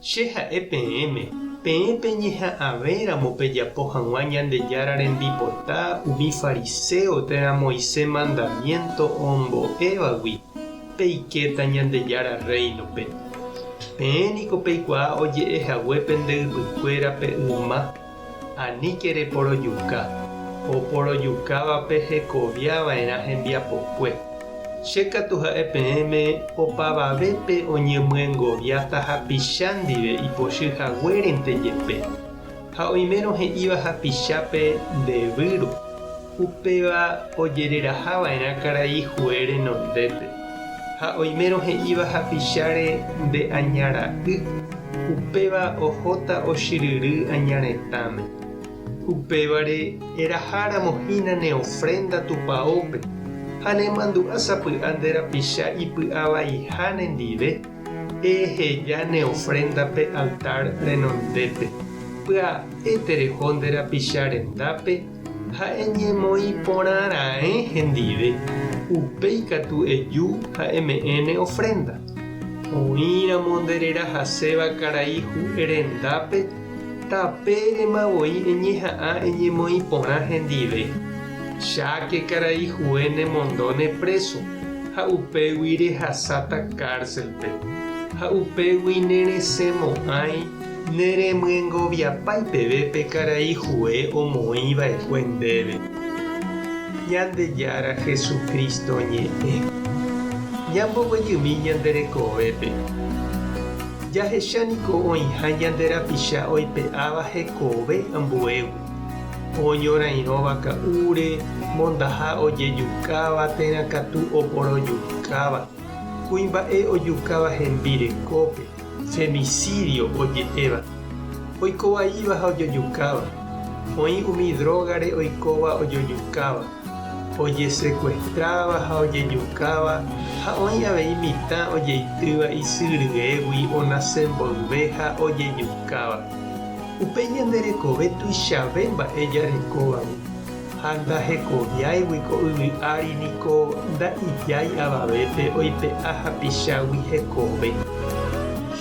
Che ha'e peẽme, peẽ peñeha'ãvéramo pejapo hag̃ua Ñandejára rembipota umi fariséo térã Moisés mandamiénto ombo'évagui, peikéta Ñandejára Rréinope. Peẽ niko peikuaa oje'e hague pende ypykuéra pe yma. Aníke reporojuka, oporojukávape hekovia va'erã hembiapokue. Che katu ha'e peẽme opavavépe oñemyengoviáta hapicha ndive ipochy haguérente jepe, ha oimérõ he'íva hapichápe nde vyru. Upéva ojereraha va'erã karai Jué renondépe, ha oimérõ he'íva hapicháre nde aña ra'y, upéva ohóta ochyryry aña retãme. Upévare eraha ramo hína ne ofrénda Tupaópe, ha nemandu'a sapy'a nde rapicha ipy'a vaiha nendive, eheja ne ofrénda pe altár renondépe, pya'e tereho nde rapicha rendápe, Ha'e ñemoĩ porã raẽ hendive, upéi katu eju ha eme'ẽ ne ofrénda. Oĩramo nde rerahaséva karai hu'e rendápe, tapérema voi eñeha'ã eñemoĩ porã hendive. Cháke karai hu'e nemondo ne préso, ha upégui rehasáta kárselpe, ha upégui neresẽmo'ãi. Neremyengoviapái peve pe karai Joé omoĩ va'ekue ndéve. Ñandejára Jesucristo ñe'ẽ. Ñamboguejymi ñande rekovépe. Jahecha niko oĩha ñande rapicha oipe'áva hekove ambuégui, oñorairõva ka'úre, mondaha ojejukáva térã katu oporojukáva, kuimba'e ojukáva hembi rekópe, Femicídio oje'éva, oiko vaíva ha ojojukáva, oĩ umi drógare oikóva ojojukáva, ojesekuestráva ha ojejukáva ha oĩ avei mitã ojeitýva isy ryégui onase mboyve ha ojejukáva. Upe ñande rekove tuichave mba'e jarekóvagui. Ha ndahekoviáigui ko yvy ári niko nda'ijái avavépe oipe'a hapichágui hekove.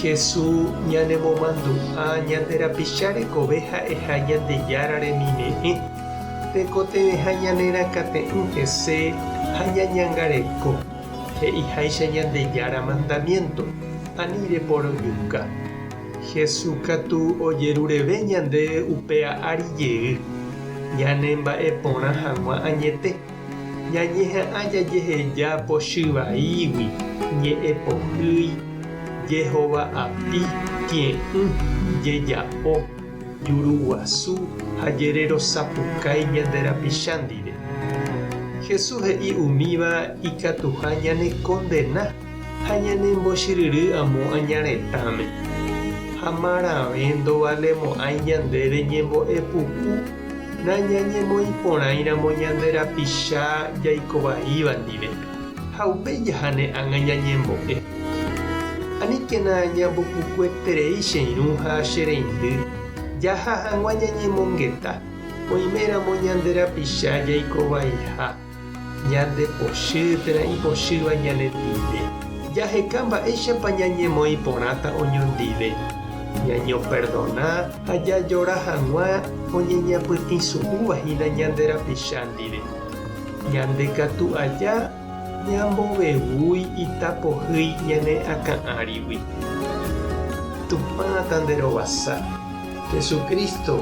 Hesu ñanemomandu'a ñande rapicha rekove ha'eha Ñandejára remime'ẽ, tekotevẽha ñanerakãte'ỹ hese ha ñañangareko, he'iháicha Ñandejára mandamiénto, ani reporojuka. Jesús katu ojerureve ñande upéva ári jey, ñanemba'e porã hag̃ua añete. Ñañeha'ã jajeheja pochy vaígui, ñe'ẽ pohýi, jehova api, kie'ỹ, jejapo, juru guasu ha jererosapukái ñande rapicha ndive. Jesús he'i umíva ikatuha ñanekondena. ha ñanembochiryry amo aña retãme, ha marãve ndovalemo'ãi ñandéve ñembo'epuku nañañemoĩporãiramo ñande rapicha jaiko vaíva ndive, ha upéi jahane ág̃a ñañembo'e. Aníkena ñambopukueterei che irũ ha che reindy, jaha hag̃ua ñañemongeta, oiméramo ñande rapicha jaiko vaiha. Ñandepochy térã ipochýva ñane ndive. Jaheka mba'éichapa ñañemoĩ porãta oñondive. Ñañoperdona ha jajora hag̃ua oñeñapytĩsu'úva hína ñande rapicha ndive. Ñande katu aja ñambovevúi itapohýi ñane akã árigui. Tupã tanderovasa, Jesucristo,